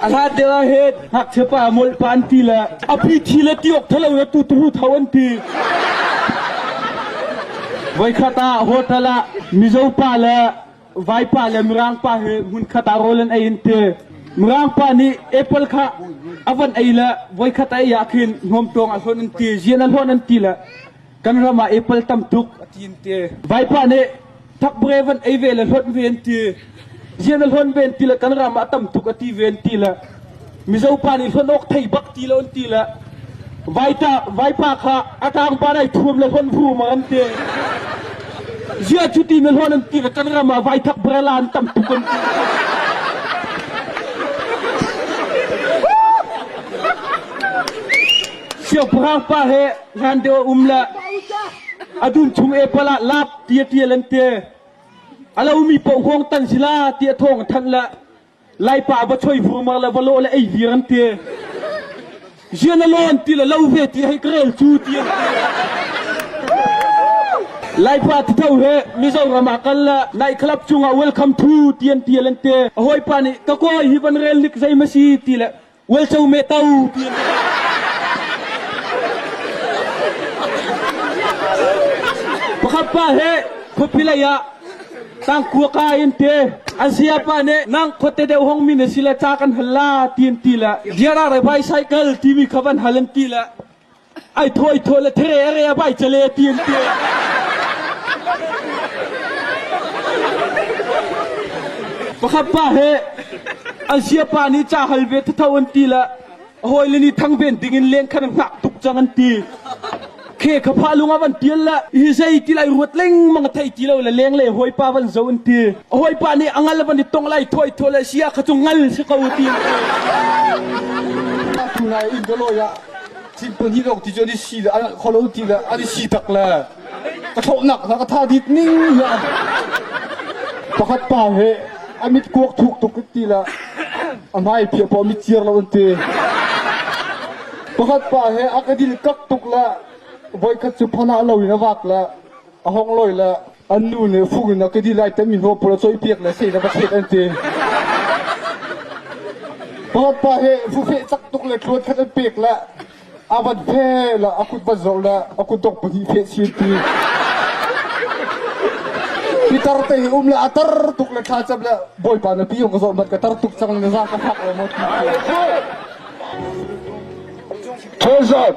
Aratil ah het ngakchia pa mawlh pa an ti le api thi le ti awk thalo in atu tuhu thau an ti. Voikhat ah hotel ah Mizo pa le vaipa le Mirang pa he hmun khat ah rawl an ei in ti. Mirang pa nih apple kha avan ei le voikhat ei ah khin hnawm tuang a hlon an ti, zian a hlon an ti le Kan ram ah apple tam tuk a ti an ti. Vaipa nih thakbure van ei ve le hlonh ve an ti. Zian a hlonh ve an ti le kan ram ah tam tuk a ti ve an ti le Mizo pa nih hlonh awk thei bak ti lo an ti le vaita vaipa kha a tang pa nai thuam le hlonh hu ma an ti. Zia cu ti na hlonh an ti ka kan ram ah vai thak bra lan tam tuk an ti. Siangpahrang pa he Hlandeo um le a dun chung epal ah lap ti a tial an te. A lomi paoh hawng tan si la ti a thawng thanh le laipa va choi vurmar le va lawh le ei vir an te. Jian a lawn ti le lo ve ti hei karel cu ti an te. Laipa titho he Mizoram ah kal le nai club cungah welcome to ti an tial an te. A hawipa nih ka kawi hi van rel nik zei ma si ti le Uaico meh to ti an Pakhat pa he khuapi lei ah tangkua ka in te an saya pa nih nang khuate deuh hong min si le ca kan hal la ti an ti le riara rai bai cycle timi kha van hal an ti le ai thuaithuai le therere a vai cale ti an ti. Pakhat pa he an sia pa nih ca hal ve thatho an ti la a hawi le nih thang ven ding in leng khan ngak tuk cang an ti. Khe kha pha lung ah van tial la hi zei ti lai ruat lengmang thei ti lo le leng le hoi pa van zo an ti. A hoi pa nih angal van i tong lai thuai thuai le sia kha chu ngal si ko ti an ti. Tunai in Doloy ah Thil pahnih lawng ti cu an i si le an alh kho lo ti le an i si tak le ka thlawhnak hna ka tha dit ning le pakhat pa he a mit kuak thuk tuk ti le a hmai pia pa mit ciar lo an ti pakhat pa he a ka dil kak tuk le voikhat cu phana lo in a vak le a hong loi le An nu nih fuk in a ka dil lai tami hnuah pul a cawipiak le sei le va set an ti. Pawpa he fufeh tak tuk le tluan khat an pek le a van fe le a kut van zor le a kut dok pahnih fe si an ti. Pitar te hi um le a tar tuk le thla cam le bawipa na pi hong ka zor mat ka tar tuk cang le za ka fak le mo ti. Thurzat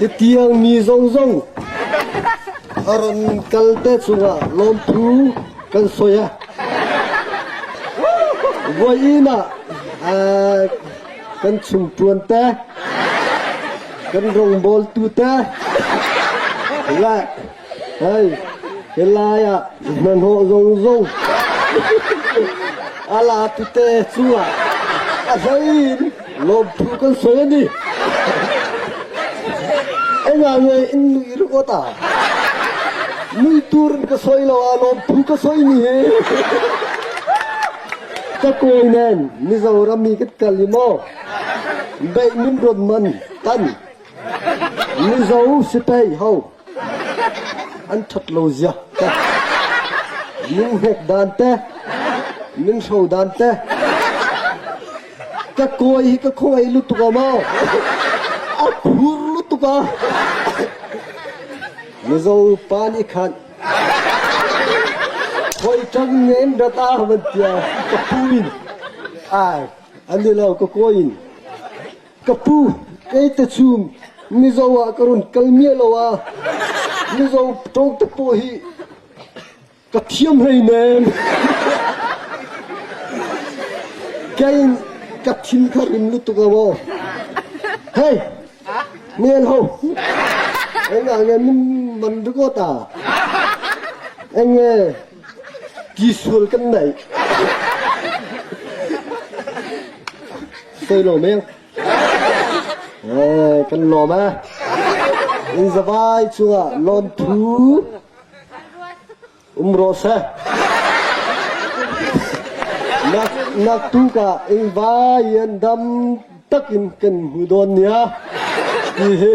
Hi tiangmi zong zong a ran kal te chungah lawmphu kan soi a voi inn ah kan chim ṭuan te kan rongbawl tu te le Hei, hi lai ah na hnawh zungzung a la tete cu ah a hlei lawmthu kan soi a ni. Ai nga nge in nui ru ta. Nui tur in ka soi lo ah lawmthu ka soi ni hi. Ka kawi nen Mizoram mi kan kal i maw beih min ruat man tan Mizo si pei ho An ṭhat lo zia teh! Minghnek dan teh! Minhro dan teh! Ka kawi hi ka khawngaih lutuk a maw! A phur lutuk a! Mizo upa nih khan khoiṭang ngen rat a van tia ka pu in ai an i lo ka kawi in Ka pu, kei te chung mizo ah ka run kal miah lo ah mizo ṭawngte pawh hi ka thiam hleinem. Kein ka thin kha rim lu tuk a maw. Hei, nian ho. Eng ah nge min man ringawt ah. Eng nge Ki sual kan naih. Sei lo meng. Eh, kan lawm e. In zavai cungah lonthu um ro se. Nak nak tu ka in vai an dam takin kan hmu don nia. Ti hi